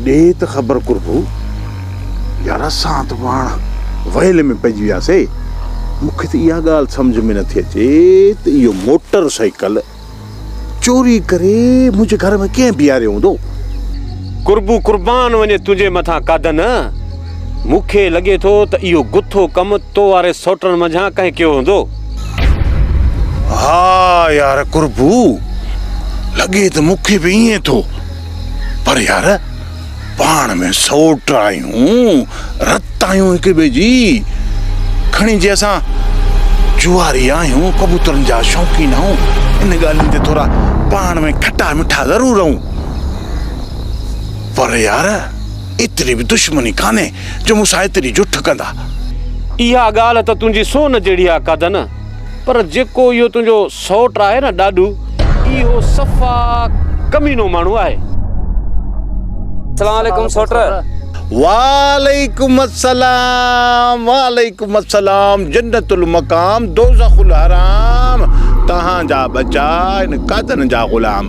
ڏي ته خبر قربو. يار اسان ته پاڻ ويل ۾ پئجي وياسي. مون کي ته اها ڳالهه سمجهه ۾ نٿي اچي ته اهو موٽر سائيڪل چوري ڪري منهنجي گهر ۾ ڪنهن بيهاريو هوندو. قربو قربان وڃي تنهنجي مٿان ڪاڌن. مون کي لڳي ٿو ته اهو گٿو ڪم تو واري سئوٽرن منجهان ڪنهن ڪيو هوندو. ها يار قربو لڳي ته مون کي به ائين ٿو پر يار پاڻ ۾ سوٽ آهيون رت آهيون هڪ ٻئي جي کڻي جي اسان جواري آهيون ڪبوترن جا شوقين آهيون ان ڳالهين تي ٿورا پاڻ ۾ کٽا مٺا ضرور رهون پر يار ايتري به دشمني ڪانهي جو مون سان ايتري جٺ ڪندا. اها ڳالهه ته تنهنجي سونهن جهڙي آ ڪادن، پر جيڪو اهو تنهنجو سئوٽ آهي نه ڏاڏو، اهو صفا ڪمينو ماڻهو آهي. سلام عليڪم سئوٽ. وعليڪم السلام وعليڪم السلام جنت المقام دوزخ الحرام تهان جا ٻچا آهن ڪادن جا غلام.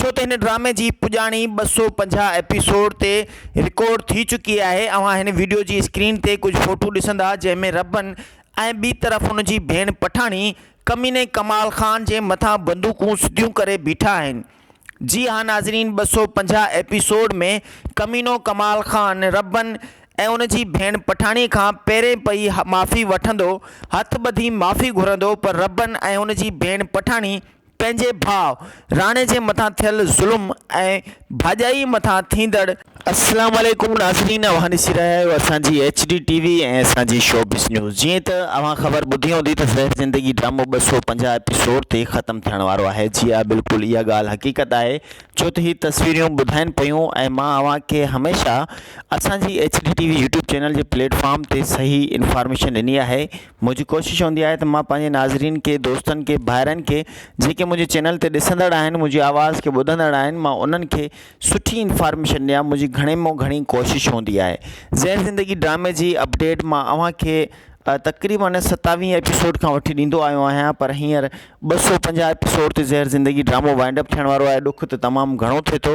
ڇو ته هن ڊرامي جي پڄاڻي ٻه سؤ پنجاهه ايپيسوڊ تي رڪارڊ ٿي چڪي آهي اوهان هن وڊيو جي اسڪرين تي ڪجهه فوٽو ڏسندا جنهن ۾ ربن ۽ ٻي طرف هن جي ڀيڻ پٺاڻي ڪميني ڪمال خان جي مٿان بندوقون سڌيون ڪري بيٺا آهن جي ها ناظرين ٻه سؤ پنجاهه ايپيسوڊ ۾ ڪمينو ڪمال خان ربن ۽ ان جي ڀيڻ پٺاڻي کان پهرين پئي معافي وٺندو هٿ ٻڌي معافي گهرندو پر ربن ۽ ان جي ڀيڻ پٺاڻي پنهنجي ڀاء راڻي جي مٿان ٿيل ظلم ۽ ڀاڄائي مٿان ٿيندڙ السلام عليڪم ناظرين اوهان ڏسي رهيا آهيو اسان جي ايڇ ڊي ٽي وي ۽ اسان جي شوبز نيوز جيئن ته اوهان خبر ٻڌي هوندي ته زهر زندگي ڊرامو ٻه سؤ پنجاهه ايپيسوڊ تي ختم ٿيڻ وارو آهي جي ها بلڪل اها ڳالهه حقيقت آهي ڇو ته هي تصويريون ٻڌائين پيون ۽ مان اوهان کي هميشه اسان جي H D T V YouTube channel جي پليٽ فارم تي صحيح انفارميشن ڏني آهي منهنجي ڪوشش هوندي آهي ته مان پنهنجي ناظرين کي دوستن کي ڀائرن کي جيڪي منهنجي چينل تي ڏسندڙ آهن منهنجي آواز کي ٻڌندڙ آهن مان انهن کي سٺي انفارميشن ڏيان منهنجي گهڻي مون گهڻي ڪوشش هوندي آهي زير زندگي ڊرامي جي اپڊيٽ مان اوهان کي تقريبن ستاويهه ايپيسوڊ کان وٺي ڏيندو آيو آهيان پر هينئر ٻه سو پنجاهه ايپيسوڊ تي زير زندگي ڊرامو وائنڊ اپ ٿيڻ وارو آهي ڏک ته تمام گهڻو ٿئي ٿو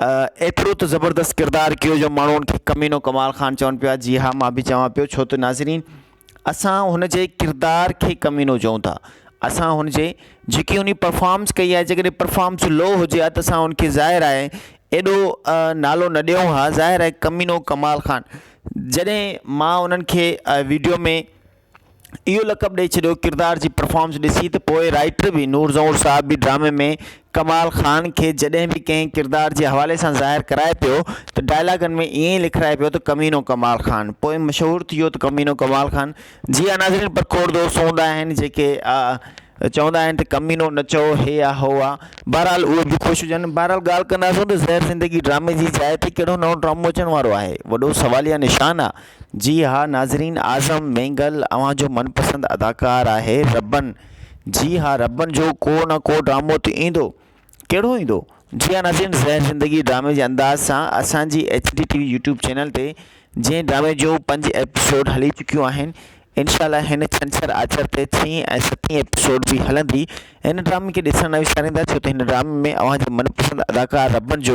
ايترو ته زبردست ڪردار ڪيو جو ماڻهو ان کي ڪمينو ڪمال خان چون پيا جي ها مان به چوان پيو ڇو ته ناظرين اسان هن جي ڪردار کي ڪمينو چئون ٿا اسان هن جي جيڪي هن پرفارمس ڪئي آهي جيڪڏهن پرفارمس لو هجي ها ته اسان ان کي ظاهر آهي ايڏو نالو نه ڏيون ها ظاهر آهي ڪمينو ڪمال خان جڏهن مان انهن کي ويڊيو ۾ اهو لقب ڏئي ڇڏيو ڪردار جي پرفارمنس ڏسي ته پوء رائٽر به نور زهور صاحب به ڊرامي ۾ ڪمال خان کي جڏهن به ڪنهن ڪردار جي حوالي سان ظاهر ڪرائي پيو ته ڊائلاگن ۾ ائين ئي لکرائي پيو ته ڪمينو ڪمال خان پوء مشهور ٿي ويو ته ڪمينو ڪمال خان جي ها ناظرين پر کوڙ دوست هوندا آهن جيڪي چوندا آهن ته ڪمينو نه چئو هي آ هو آ بهرحال اهي به خوش هجن بهرحال ڳالهه ڪنداسون ته زهر زندگي ڊرامي جي جاء تي ڪهڙو نئون ڊرامو اچڻ وارو آهي وڏو سواليه نشان آ جي ها ناظرين اعظم مينگل اوهان جو من پسند اداڪار آهي ربن جي ها ربن جو ڪو نه ڪو ڊرامو ته ايندو ڪهڙو ايندو جي ها ناظرين زهر زندگي ڊرامي جي انداز سان اسان جي H D T V YouTube channel تي جنهن ڊرامي جو پنج ايپيسوڊ هلي چڪيون آهن انشاء الله هن ڇنڇر آچر تي ڇهين ۽ ستين ايپيسوڊ به هلندي هن ڊرامي کي ڏسڻ نه وساريندا ڇو ته هن ڊرامي ۾ اوهان جو من پسند اداڪار ربن جو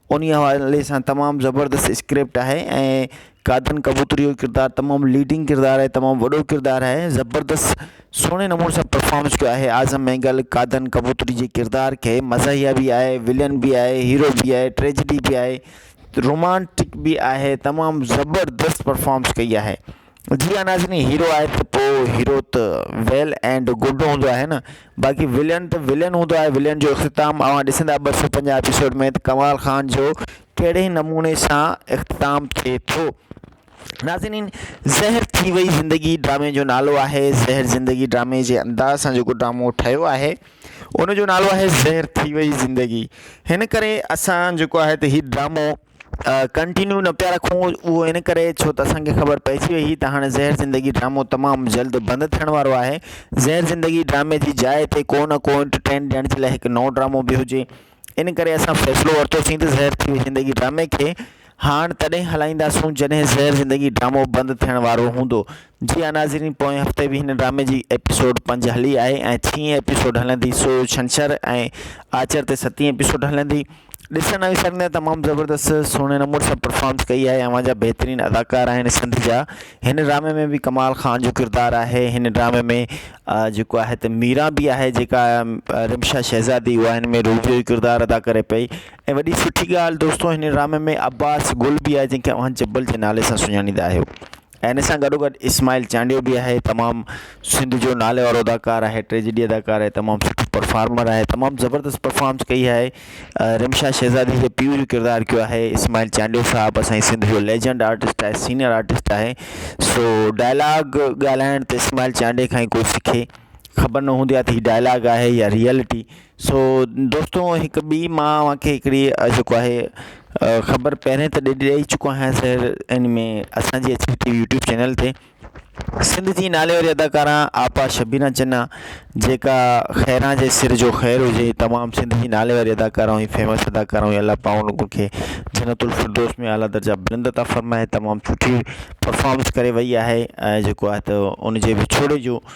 انهي حوالي سان تمام زبردست اسڪرپٽ آهي ۽ قادن ڪبوتري جو ڪردار تمام ليڊنگ ڪردار آهي تمام وڏو ڪردار آهي زبردست سهڻي نموني سان پرفامنس ڪيو آهي اعظم مينگل قادن ڪبوتري جي ڪردار کي مزاحيه به آهي ولين به آهي هيرو به آهي ٽريجڊي به آهي رومانٽڪ به آهي تمام زبردست پرفامنس ڪئي آهي جي ها ناظرين هيرو آهي ته پو هيرو ته ويل اينڊ گڊ هوندو آهي نه باقي ولين ته ولين هوندو آهي ولين جو اختتام اوهان ڏسندا ٻه سؤ پنجاهه ايپيسوڊ ۾ ته ڪمال خان جو ڪهڙي نموني سان اختتام ٿئي ٿو ناظرين زهر ٿي وئي زندگي ڊرامي جو نالو آهي زهر زندگي ڊرامي جي انداز سان جيڪو ڊرامو ٺهيو آهي ان جو نالو آهي زهر ٿي وئي زندگي هن ڪري اسان جيڪو آهي ته هي ڊرامو ڪنٽينيو نه پيا رکون اهو ان ڪري ڇو ته اسان کي خبر پئجي وئي هئي ته هاڻي زهر زندگي ڊرامو تمام جلد بند ٿيڻ وارو آهي زهر زندگي ڊرامي جي جاء تي ڪو نه ڪو انٽرٽين ڏيڻ جي لاء هڪ نئون ڊرامو به هجي ان ڪري اسان فيصلو ورتوسين ته زهر ٿي وئي زندگي ڊرامي کي هاڻ تڏهن هلائينداسون جڏهن زهر زندگي ڊرامو بند ٿيڻ وارو هوندو جي ها ناظرين پوئين هفتي به هن ڊرامي جي ايپيسوڊ پنج هلي آهي ۽ ڇهين ايپيسوڊ هلندي سو ڇنڇر ۽ آچر تي ستين ايپيسوڊ هلندي ڏسڻ ۽ سر ۾ تمام زبردست سهڻي نمبر سان پرفارمس ڪئي آهي اوهان جا بهترين اداڪار آهن سنڌ جا هن ڊرامي ۾ به ڪمال خان جو ڪردار آهي هن ڊرامي ۾ جيڪو آهي ته ميرا بي آهي جيڪا رمشا شهزادي هو هن ۾ روبي جو ڪردار ادا ڪري پئي ۽ وڏي سٺي ڳالهه دوستو هن ڊرامي ۾ عباس گل بي آهي جنهن کي اوهان جبل جي نالي سان سڃاڻيندا آهيو ان سان گڏو گڏ اسماعيل چانڊيو به آهي تمام سنڌ جو نالي وارو اداڪار آهي ٽريجڊي اداڪار آهي تمام سٺو پرفارمر آهي تمام زبردست پرفارمس ڪئي آهي رمشا شهزادي جي پيء جو ڪردار ڪيو آهي اسماعيل چانڊيو صاحب اسان جي سنڌ جو ليجنڊ آرٽسٽ آهي سينيئر آرٽسٽ آهي سو ڊائلاگ ڳالهائڻ ته اسماعيل چانڊيو کان ئي کوئي سکي خبر نه هوندي آهي ته هي ڊائلاگ آهي يا ريئلٽي سو دوستو هڪ ٻي مان اوهان کي هڪڙي جيڪو آهي خبر پهرين ته ڏي ڏئي چڪو آهيان سر ان ۾ اسانجي H D T V YouTube channel تي سنڌ جي نالي واري اداڪارا آپا شبينا چنا جيڪا خيران جي سر جو خير هجي تمام سنڌ جي نالي واري اداڪارا ۽ فيمس اداڪارا هئي الله پاڪ ان کي جنت الفردوس ۾ اعليٰ درجا بلند عطا فرمائي تمام سٺي پرفارمنس ڪري وئي آهي ۽ جيڪو آهي ته ان جي وڇوڙي جو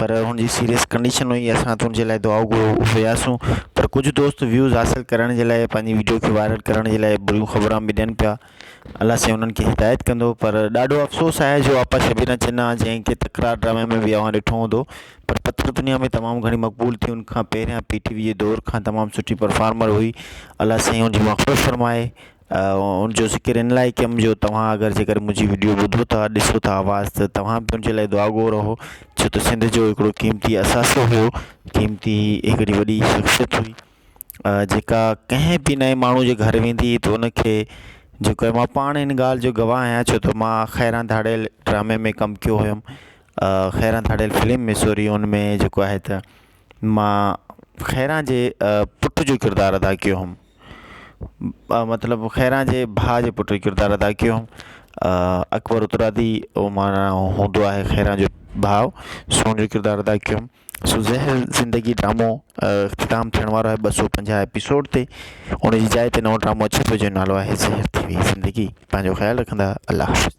پر هن جي سيريس ڪنڊيشن هئي اسان هت هنجي لاء دعائون گهرو هياسون پر ڪجهه دوست ويوز حاصل ڪرڻ جي لاء پنهنجي ويڊيو کي وائرل ڪرڻ جي لاء بريون خبران به ڏين پيا الله سائين انهن کي هدايت ڪندو پر ڏاڍو افسوس آهي جو آپا شبينا چنا جنهن کي تڪرار ڊرامي ۾ به اوهان ڏٺو هوندو پر پٿر دنيا ۾ تمام گهڻي مقبول ٿي ان کان پهريان پي ٽي وي جي دور کان تمام سٺي پرفارمر هئي الله سائين هن جي مغفرت فرمائي ان جو ذڪر ان لاء ڪيم جو توهان اگر جيڪر منهنجي وڊيو ٻڌو ٿا ڏسو ٿا آواز ته توهان به منهنجي لاء دعا گو رهو ڇو ته سنڌ جو هڪڙو قيمتي اثاثو هو قيمتي هڪڙي وڏي شخصيت هئي جيڪا ڪنهن به نئين ماڻهو جي گهر ويندي هئي ته ان کي جيڪو هي مان پاڻ ان ڳالهه جو گواهه آهيان ڇو ته مان خيران ڌاڙيل ڊرامي ۾ ڪم ڪيو هيم خيران ڌاڙيل فلم سوري ان ۾ جيڪو آهي ته مان خيران جي پٽ جو ڪردار ادا ڪيو ھوم مطلب خيران جي ڀاء جي پٽ جو ڪردار ادا ڪيو ھوم اڪبر اترادي ھو مانا ھوندو آھي خيران جو ڀاء سون جو ڪردار ادا ڪيو ھوم سو زهر زندگي ڊرامو اختتام ٿيڻ وارو آھي ٻه سو پنجاهه ايپيسوڊ تي ان جي جاء تي نئون ڊرامو اچي ٿو جنھن جو نالو آھي زهر ٿي وئي زندگي پنھنجو خيال رکندا الله حافظ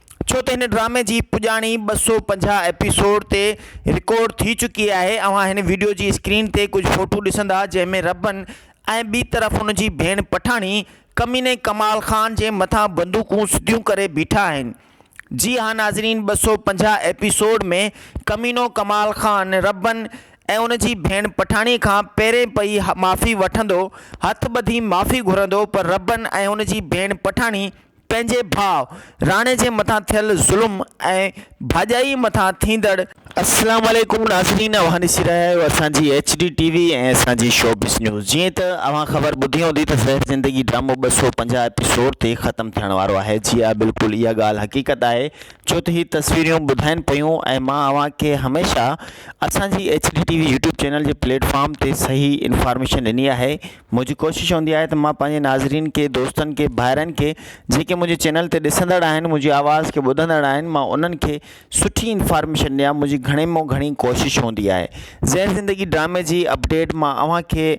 ڇو ته هن ڊرامي جي پڄاڻي ٻه سؤ پنجاهه ايپيسوڊ تي رڪارڊ ٿي چڪي آهي اوهان هن وڊيو جي اسڪرين تي ڪجهه فوٽو ڏسندا جنهن ۾ ربن ۽ ٻي طرف هن جي ڀيڻ پٺاڻي ڪميني ڪمال خان جي مٿان بندوقون سڌيون ڪري بيٺا آهن جي ها ناظرين ٻه سؤ پنجاهه ايپيسوڊ ۾ ڪمينو ڪمال خان ربن ۽ ان جي ڀيڻ پٺاڻي کان پهرين پئي معافي وٺندو هٿ ٻڌي معافي گهرندو پر ربن ۽ ان جي ڀيڻ پٺاڻي پنهنجي ڀاء راڻي جي مٿان ٿيل ظلم ۽ ڀاڄائي مٿان ٿيندڙ السلام عليڪم ناظرين اوهان ڏسي رهيا آهيو اسان جي ايڇ ڊي ٽي وي ۽ اسان جي شوبز نيوز جيئن ته اوهان خبر ٻڌي هوندي ته زهر زندگي ڊرامو ٻه سؤ پنجاهه ايپيسوڊ تي ختم ٿيڻ وارو آهي جي ها بلڪل اها ڳالهه حقيقت آهي ڇو ته هي تصويريون ٻڌائين پيون ۽ مان اوهان کي هميشه اسان جي H D T V YouTube channel جي پليٽ فارم تي صحيح انفارميشن ڏني آهي منهنجي ڪوشش هوندي آهي ته مان پنهنجي ناظرين کي دوستن کي ڀائرن کي جيڪي منهنجي چينل تي ڏسندڙ آهن منهنجي آواز کي ٻڌندڙ آهن مان انهن کي سٺي انفارميشن ڏيان منهنجي گهڻي مون گهڻي ڪوشش هوندي آهي زهر زندگي ڊرامي جي اپڊيٽ مان اوهان کي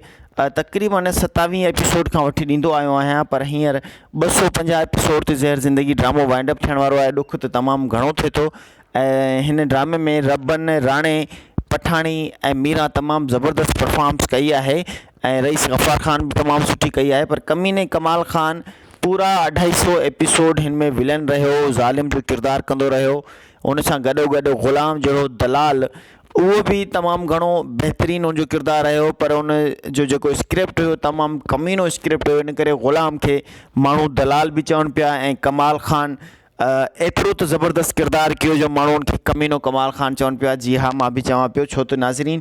تقريبن ستاويهه ايپيسوڊ کان وٺي ڏيندو آيو آهيان پر هينئر ٻه سو پنجاهه ايپيسوڊ تي زهر زندگي ڊرامو وائنڊ اپ ٿيڻ وارو آهي ڏک ته تمام گهڻو ٿئي ٿو ۽ هن ڊرامي ۾ ربن راڻي پٺاڻي ۽ ميرا تمام زبردست پرفارمس ڪئي آهي ۽ رئيس غفار خان به تمام سٺي ڪئي آهي پر ڪميني ڪمال خان پورا اڍائي سئو ايپيسوڊ هن ۾ ولن رهيو ظالم جو ڪردار ڪندو رهيو ان سان گڏو گڏ غلام جهڙو دلال اهو به تمام گهڻو بهترين ان جو ڪردار رهيو پر ان جو جيڪو اسڪرپٽ هيو تمام ڪمينو اسڪرپٽ هيو ان ڪري غلام کي ماڻهو دلال به چون پيا ۽ ڪمال خان ايترو ته زبردست ڪردار ڪيو جو ماڻهو ان کي ڪمينو ڪمال خان چون پيا جي ها مان به چوان پيو ڇو ته ناظرين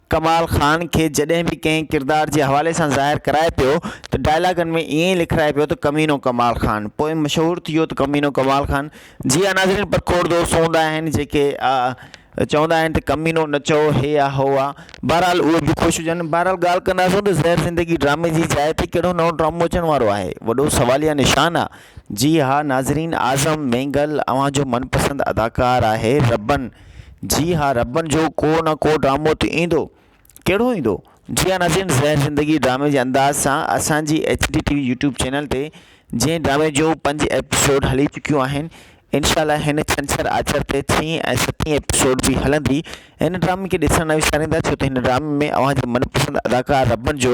ڪمال خان کي جڏهن به ڪنهن ڪردار جي حوالي سان ظاهر ڪرائي پيو ته ڊائلاگن ۾ ائين ئي لکرائي پيو ته ڪمينو ڪمال خان پوء مشهور ٿي ويو ته ڪمينو ڪمال خان جي ها ناظرين پر کوڙ دوست هوندا آهن جيڪي چوندا آهن ته ڪمينو نه چئو هي آ هو آ بهرحال اهي به خوش هجن بهرحال ڳالهه ڪنداسون ته زهر زندگي ڊرامي جي جاء تي ڪهڙو نئون ڊرامو اچڻ وارو آهي وڏو سواليه نشان آ جي ها ناظرين اعظم مينگل اوهان جو من پسند اداڪار آهي ربن جي ها ربن جو ڪو نه ڪو ڊرامو ته ايندو ڪهڙو ايندو جي ها ناظرين زهر زندگي ڊرامي جي انداز سان اسان جي H D T V YouTube channel تي جنهن ڊرامي جون پنج ايپيسوڊ هلي چڪيون آهن انشاء الله هن ڇنڇر آچر تي ڇهين ۽ ستين ايپيسوڊ به هلندي هن ڊرامي کي ڏسڻ نه وساريندا ڇو ته هن ڊرامي ۾ اوهان جي من پسند اداڪار ربن جو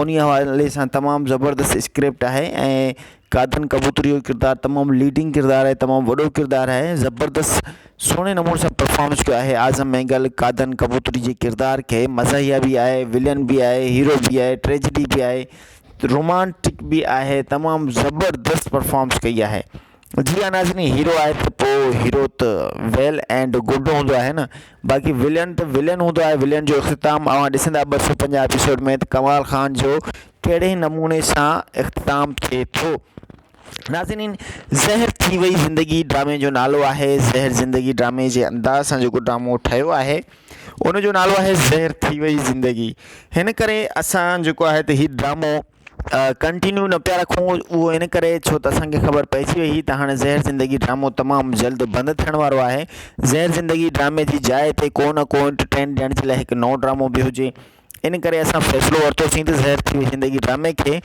انهي حوالي سان تمام زبردست اسڪرپٽ آهي ۽ قادن ڪبوتري جو ڪردار تمام ليڊنگ ڪردار آهي تمام وڏو ڪردار آهي زبردست سهڻي نموني سان پرفامنس ڪيو آهي اعظم مينگل قادن ڪبوتري جي ڪردار کي مزاحيه به آهي ولن به آهي هيرو به آهي ٽريجڊي به آهي رومانٽڪ به آهي تمام زبردست پرفامنس ڪئي آهي جي ها ناظرين هيرو آهي ته پوء هيرو ته ويل اينڊ گڊ هوندو آهي نه باقي ولين ته ولين هوندو آهي ولين جو اختتام اوهان ڏسندا ٻه سؤ پنجاهه ايپيسوڊ ۾ ته ڪمال خان جو ڪهڙي نموني سان اختتام ٿئي ٿو ناظرين زهر ٿي وئي زندگي ڊرامي جو نالو آهي زهر زندگي ڊرامي جي انداز سان جيڪو ڊرامو ٺهيو آهي ان جو نالو آهي زهر ٿي وئي زندگي هن ڪري اسان جيڪو آهي ته هي ڊرامو ڪنٽينيو نه پيا رکون اهو ان ڪري ڇو ته اسان کي خبر پئجي وئي هئي ته هاڻي زهر زندگي ڊرامو تمام جلد بند ٿيڻ وارو آهي زهر زندگي ڊرامي جي جاء تي ڪو نه ڪو انٽرٽين ڏيڻ جي لاء هڪ نئون ڊرامو به هجي ان ڪري اسان فيصلو ورتوسين ته زهر ٿي وئي زندگي ڊرامي کي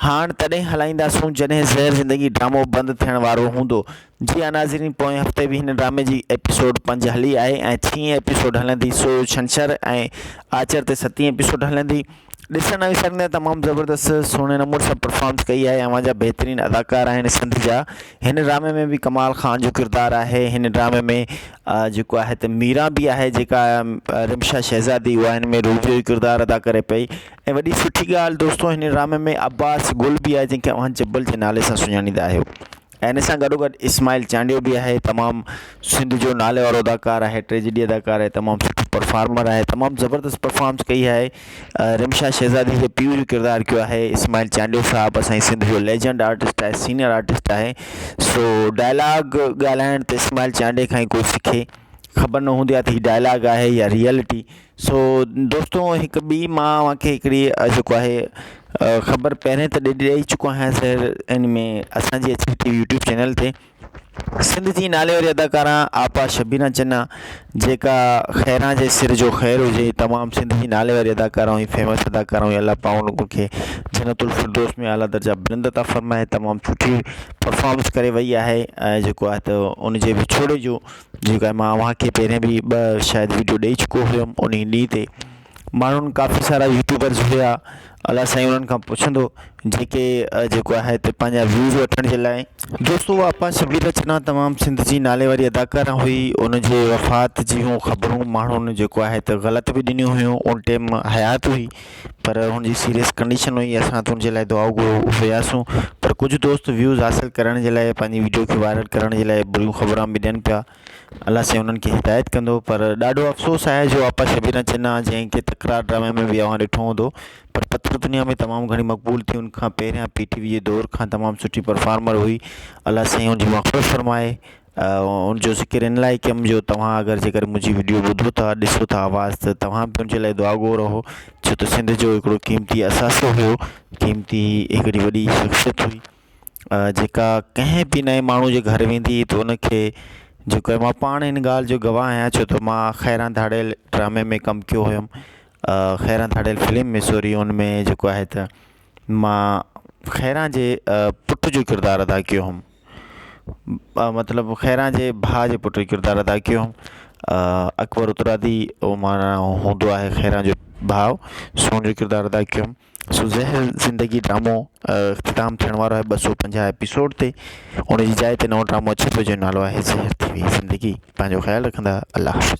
هاڻ تڏهن هلائينداسون جڏهن زهر زندگي ڊرامو بند ٿيڻ وارو هوندو جي ها ناظرين پوئين هفتي به هن ڊرامي جي ايپيسوڊ پنج هلي آهي ۽ ڇهين ايپيسوڊ هلندي سو ڇنڇر ۽ آچر تي ستين ايپيسوڊ هلندي ڏسڻ ۽ سنڌ تمام زبردست سهڻي نموني سان پرفارمنس ڪئي آهي اوهان جا بهترين اداڪار آهن سنڌ جا هن ڊرامي ۾ به ڪمال خان جو ڪردار آهي هن ڊرامي ۾ جيڪو آهي ته ميرا بي آهي جيڪا رمشا شهزادي هو هن ۾ روبيو جو ڪردار ادا ڪري پئي ۽ وڏي سٺي ڳالهه دوستو هن ڊرامي ۾ عباس گل بي آهي جنهن کي اوهان جبل جي نالي سان سڃاڻيندا آهيو ان سان گڏو گڏ اسماعيل چانڊيو به آهي تمام سنڌ جو نالي وارو اداڪار آهي ٽريجڊي اداڪار آهي تمام سٺو پرفارمر آهي تمام زبردست پرفارمس ڪئي آهي رمشا شهزادي جي پيء جو ڪردار ڪيو آهي اسماعيل چانڊيو صاحب اسان جي سنڌ جو ليجنڊ آرٽسٽ آهي سينيئر آرٽسٽ آهي سو ڊائلاگ ڳالهائڻ ته اسماعيل چانڊيو کان ئي کوسي کي خبر نه هوندي آهي ته هي ڊائلاگ آهي يا ريئلٽي سو دوستو هڪ ٻي مان اوهان کي هڪڙي جيڪو آهي خبر پهرين ته ڏئي چڪو آهيان سر ان ۾ اسانجي H T V YouTube channel تي سنڌ جي نالي واري اداڪارا آپا شبينا چنا جيڪا خيران جي سر جو خير هجي تمام سنڌ جي نالي واري اداڪارا ۽ فيمس اداڪارا هئي الله پاڪ ان کي جنت الفردوس ۾ اعليٰ درجا بلند عطا فرمائي تمام سٺي پرفارمنس ڪري وئي آهي ۽ جيڪو آهي ته ان جي وڇوڙي جو جيڪا مان اوهان کي پهرين به ٻه شايد وڊيو ڏئي چڪو هيم ان ڏينهن تي ماڻهن ڪافي سارا يوٽيوبرز هيا الاء سائين انهن کان پڇندو جيڪي جيڪو آهي هتي پنهنجا ويوز وٺڻ جي لاء دوستو آپا شبير رچنا تمام سنڌ جي نالي واري اداڪاره هئي ان جي وفات جون خبرون ماڻهن جيڪو آهي ته غلط به ڏنيون هيون ان ٽيم حيات هئي پر هن جي سيريس ڪنڊيشن هئي اسان هتي هن جي لاء دعائون گهرڻ وياسون پر ڪجهه دوست ويوز حاصل ڪرڻ جي لاء پنهنجي وڊيو کي وائرل ڪرڻ جي لاء بريون خبران به ڏين پيا الله سائين انهن کي هدايت ڪندو پر ڏاڍو افسوس آهي جو آپا شبينا چنا جنهن کي تڪرار ڊرامي ۾ به اوهان ڏٺو هوندو پر پٿر دنيا ۾ تمام گهڻي مقبول ٿي ان کان پهريان پي ٽي وي جي دور کان تمام سٺي پرفارمر هئي الله سائين ان جي مغفرت فرمائي ان جو ذڪر ان لاء ڪيم جو توهان اگر جيڪر منهنجي وڊيو ٻڌو ٿا ڏسو ٿا آواز ته توهان به منهنجي لاء دعا گو رهو ڇو ته سنڌ جو هڪڙو قيمتي اثاثو هو قيمتي هڪڙي وڏي شخصيت هئي جيڪا ڪنهن به نئين ماڻهو جي گهر ويندي هئي ته ان کي جيڪو هي مان پاڻ ان ڳالهه جو گواهه آهيان ڇو ته مان خيران ڌاڙيل ڊرامي ۾ ڪم ڪيو هيم خيران ڌاڙيل فلم ۾ سوري ان ۾ جيڪو آهي ته مان خيران جي پٽ جو ڪردار ادا ڪيو هيم مطلب خيران جي ڀاء جي پٽ ڪردار ادا ڪيو اڪبر اترادي او مانا هوندو آهي خيران جو ڀاء سون جو ڪردار ادا ڪيو سو زهر زندگي ڊرامو اختتام ٿيڻ وارو آهي ٻه سو پنجاهه ايپيسوڊ تي ان جي جاء تي نئون ڊرامو اچي پيو جنهن جو نالو آهي زهر ٿي وئي زندگي پنهنجو خيال رکندا الله حافظ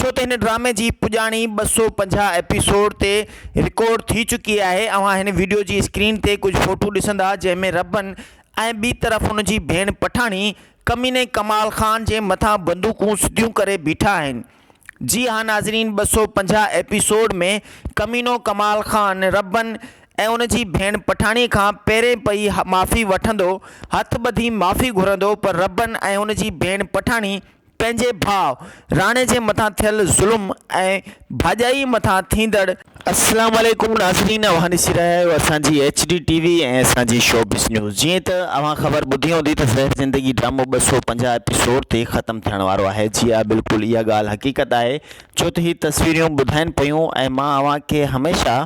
ڇو ته هن ڊرامي جي پڄاڻي ٻه سؤ پنجاهه ايپيسوڊ تي رڪارڊ ٿي چڪي آهي اوهان هن وڊيو جي اسڪرين تي ڪجهه فوٽو ڏسندا جنهن ۾ ربن ۽ ٻي طرف هن جي ڀيڻ پٺاڻي ڪميني ڪمال خان جي مٿان بندوقون سڌيون ڪري بيٺا آهن جي ها ناظرين ٻه سؤ پنجاهه ايپيسوڊ ۾ ڪمينو ڪمال خان ربن ۽ ان جي ڀيڻ پٺاڻي کان پهرين پئي معافي وٺندو هٿ ٻڌي معافي گهرندو پر ربن ۽ ان جي ڀيڻ پٺاڻي پنهنجي ڀاء راڻي جي مٿان ٿيل ظلم ۽ ڀاڄائي مٿان ٿيندڙ السلام عليڪم ناظرين اوهان ڏسي رهيا آهيو اسان جي ايڇ ڊي ٽي وي ۽ اسان جي شوبز نيوز جيئن ته اوهان خبر ٻڌي هوندي ته زهر زندگي ڊرامو ٻه سؤ پنجاهه ايپيسوڊ تي ختم ٿيڻ وارو آهي جي ها بلڪل اها ڳالهه حقيقت آهي ڇو ته هي تصويريون ٻڌائين پيون ۽ مان اوهان کي هميشه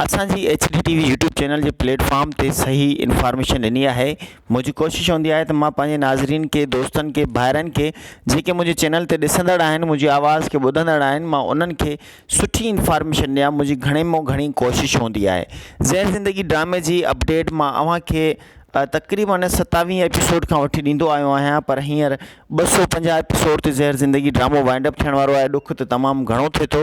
اسان جي H D T V YouTube channel جي پليٽ فارم تي صحيح انفارميشن ڏني آهي منهنجي ڪوشش هوندي آهي ته مان پنهنجي ناظرين کي دوستن کي ڀائرن کي جيڪي منهنجي چينل تي ڏسندڙ آهن منهنجي آواز کي ٻڌندڙ آهن مان انهن کي سٺي انفارميشن ڏيان منهنجي گهڻي مون گهڻي ڪوشش هوندي آهي زهر زندگي ڊرامي جي اپڊيٽ مان اوهان کي تقريبن ستاويهه ايپيسوڊ کان وٺي ڏيندو آيو آهيان پر هينئر ٻه سو پنجاهه ايپيسوڊ تي زهر زندگي ڊرامو وائنڊ اپ ٿيڻ وارو آهي ڏک ته تمام گهڻو ٿئي ٿو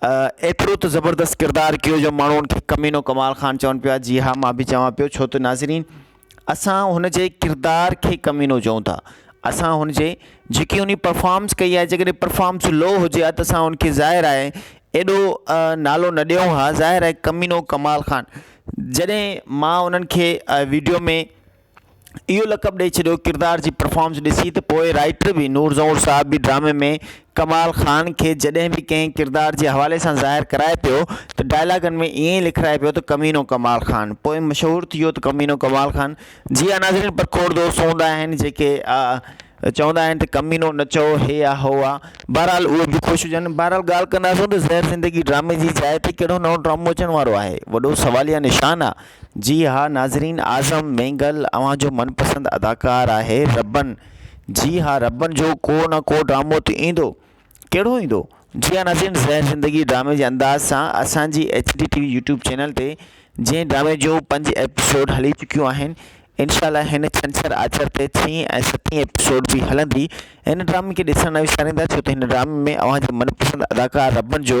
ايترو ته زبردست ڪردار ڪيو جو ماڻهو ان کي ڪمينو ڪمال خان چون پيا جي ها مان به چوان پيو ڇو ته ناظرين اسان هن جي ڪردار کي ڪمينو چئون ٿا اسان هن جي جيڪي اني پرفارمس ڪئي آهي جيڪڏهن پرفارمس لو هجي ها ته اسان ان کي ظاهر آهي ايڏو نالو نه ڏيون ها ظاهر آهي ڪمينو ڪمال خان جڏهن مان انهن کي ويڊيو ۾ اهو لقب ڏئي ڇڏيو ڪردار جي پرفارمنس ڏسي ته پوء رائٽر به نور زهور صاحب به ڊرامي ۾ ڪمال خان کي جڏهن به ڪنهن ڪردار جي حوالي سان ظاهر ڪرائي پيو ته ڊائلاگن ۾ ائين ئي لکرائي پيو ته ڪمينو ڪمال خان پوء مشهور ٿي ويو ته ڪمينو ڪمال خان جي ها ناظرين پر کوڙ دوست هوندا آهن جيڪي چوندا آهن ته ڪمينو نه چئو هي آ هو آ بهرحال اهي به خوش هجن بهرحال ڳالهه ڪنداسون ته زهر زندگي ڊرامي جي جاء تي ڪهڙو نئون ڊرامو اچڻ وارو آهي وڏو سواليه نشان آ جي ها ناظرين اعظم مينگل اوهان جو من پسند اداڪار آهي ربن جي ها ربن جو ڪو نه ڪو ڊرامو ته ايندو ڪهڙو ايندو جي ها ناظرين زهر زندگي ڊرامي جي انداز سان اسان جي H D T V YouTube channel تي جنهن ڊرامي جو پنج ايپيسوڊ هلي چڪيون آهن انشاء الله هن ڇنڇر آچر تي ڇهين ۽ ستين ايپيسوڊ به هلندي هن ڊرامي کي ڏسڻ نه وساريندا ڇو ته هن ڊرامي ۾ اوهان جي من پسند اداڪار ربن جو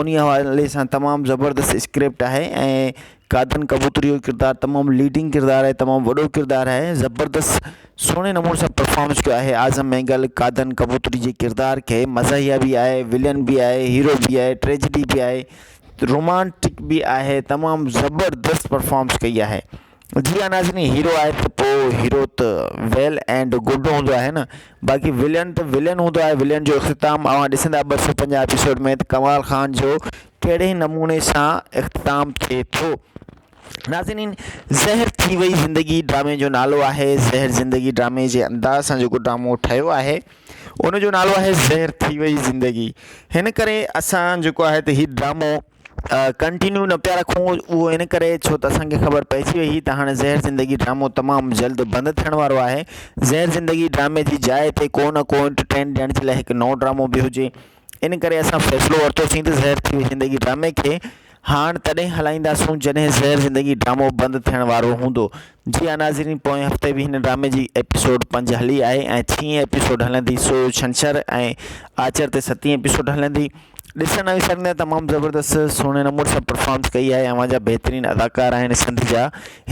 انهي حوالي سان تمام زبردست اسڪرپٽ آهي ۽ قادن ڪبوتري جو ڪردار تمام ليڊنگ ڪردار آهي تمام وڏو ڪردار آهي زبردست سهڻي نموني سان پرفامنس ڪيو آهي اعظم مينگل قادن ڪبوتري جي ڪردار کي مزاحيه به آهي ولين به آهي هيرو به آهي ٽريجڊي به آهي رومانٽڪ به آهي تمام زبردست پرفامنس ڪئي آهي جي ها ناظرين هيرو آهي ته پو هيرو ته ويل اينڊ گڊ هوندو آهي نه باقي ولين ته ولين هوندو آهي ولين جو اختتام اوهان ڏسندا ٻه سؤ پنجاهه ايپيسوڊ ۾ ته ڪمال خان جو ڪهڙي نموني سان اختتام ٿئي ٿو ناظرين زهر ٿي وئي زندگي ڊرامي جو نالو آهي زهر زندگي ڊرامي جي انداز سان جيڪو ڊرامو ٺهيو آهي ان جو نالو آهي زهر ٿي وئي زندگي هن ڪري اسان جيڪو آهي ته هي ڊرامو ڪنٽينيو نه پيا رکون اهو ان ڪري ڇو ته اسان کي خبر پئجي وئي هئي ته هاڻي زهر زندگي ڊرامو تمام جلد بند ٿيڻ وارو آهي زهر زندگي ڊرامي جي جاء تي ڪو نه ڪو انٽرٽين ڏيڻ جي لاء هڪ نئون ڊرامو به هجي ان ڪري اسان فيصلو ورتوسين ته زهر ٿي وئي زندگي ڊرامي کي هاڻ تڏهن هلائينداسون جڏهن زهر زندگي ڊرامو بند ٿيڻ وارو هوندو جي ها ناظرين پوئين هفتي به هن ڊرامي جي ايپيسوڊ پنج هلي آهي ۽ ڇهين ايپيسوڊ هلندي سو ڇنڇر ۽ آچر تي ستين ايپيسوڊ هلندي ڏسڻ ۽ سر ۾ تمام زبردست سهڻي نمبر سان پرفارمس ڪئي آهي اوهان جا بهترين اداڪار آهن سنڌ جا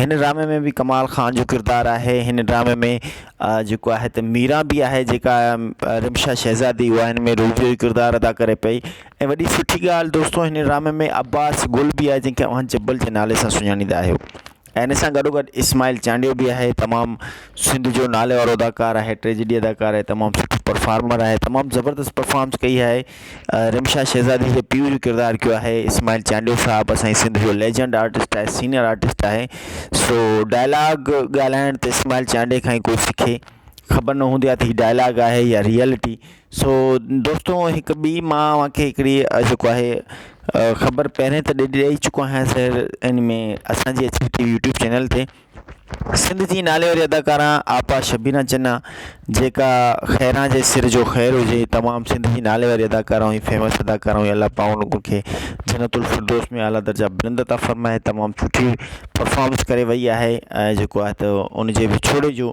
هن ڊرامي ۾ به ڪمال خان جو ڪردار آهي هن ڊرامي ۾ جيڪو آهي ته ميرا بي آهي جيڪا رمشا شهزادي هو هن ۾ روبيو جو ڪردار ادا ڪري پئي ۽ وڏي سٺي ڳالهه دوستو هن ڊرامي ۾ عباس گل بي آهي جنهن کي اوهان جبل جي نالي سان سڃاڻيندا آهيو ۽ ان سان گڏو گڏ اسماعيل چانڊيو به آهي تمام سنڌ جو نالي وارو اداڪار آهي ٽريجڊي اداڪار آهي تمام سٺو پرفارمر آهي تمام زبردست پرفارمس ڪئي آهي رمشا شهزادي جي پيء جو ڪردار ڪيو آهي اسماعيل چانڊيو صاحب اسان جي سنڌ جو ليجنڊ آرٽسٽ آهي سينيئر آرٽسٽ آهي سو ڊائلاگ ڳالهائڻ ته اسماعيل چانڊيو کان ئي کوئي سکي خبر نه هوندي آهي ته هي ڊائلاگ آهي يا ريئلٽي سو دوستو هڪ ٻي مان اوهان کي هڪڙي جيڪو آهي خبر پهرين ته ڏي ڏئي چڪو آهيان سر ان ۾ اسانجي H T V YouTube channel تي سنڌ جي نالي واري اداڪارا آپا شبينا چنا جيڪا خيران جي سر جو خير هجي تمام سنڌ جي نالي واري اداڪارا ۽ فيمس اداڪارا هئي الله پاڪ ان کي جنت الفردوس ۾ اعليٰ درجا بلند عطا فرمائي تمام سٺي پرفارمنس ڪري وئي آهي ۽ جيڪو آهي ته ان جي وڇوڙي جو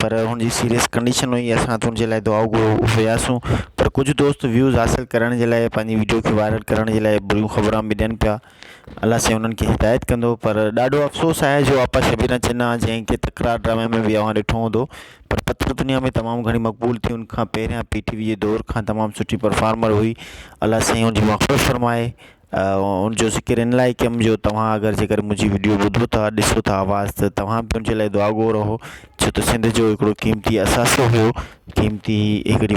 پر هن جي سيريس ڪنڊيشن هئي اسان هٿ هن جي لاء دعائون گهرڻ وياسون پر ڪجهه دوست ويوز حاصل ڪرڻ جي لاء پنهنجي وڊيو کي وائرل ڪرڻ جي لاء بريون خبران به ڏين پيا الله سائين انهن کي هدايت ڪندو پر ڏاڍو افسوس آهي جو آپا شبير ۽ چنا جنهن کي تڪرار ڊرامي ۾ به اوهان ڏٺو هوندو پر پٿر دنيا ۾ تمام گهڻي مقبول ٿي ان کان پهريان پي ٽي وي جي دور کان تمام سٺي پرفارمر هئي الله سائين ان جي مغفرت فرمائي ان جو ذڪر ان لاء ڪيم جو توهان اگر جيڪر منهنجي وڊيو ٻڌو ٿا ڏسو ٿا آواز ته توهان به منهنجي لاء دعاگو رهو ڇو ته سنڌ جو هڪڙو قيمتي اثاثو هو قيمتي هڪڙي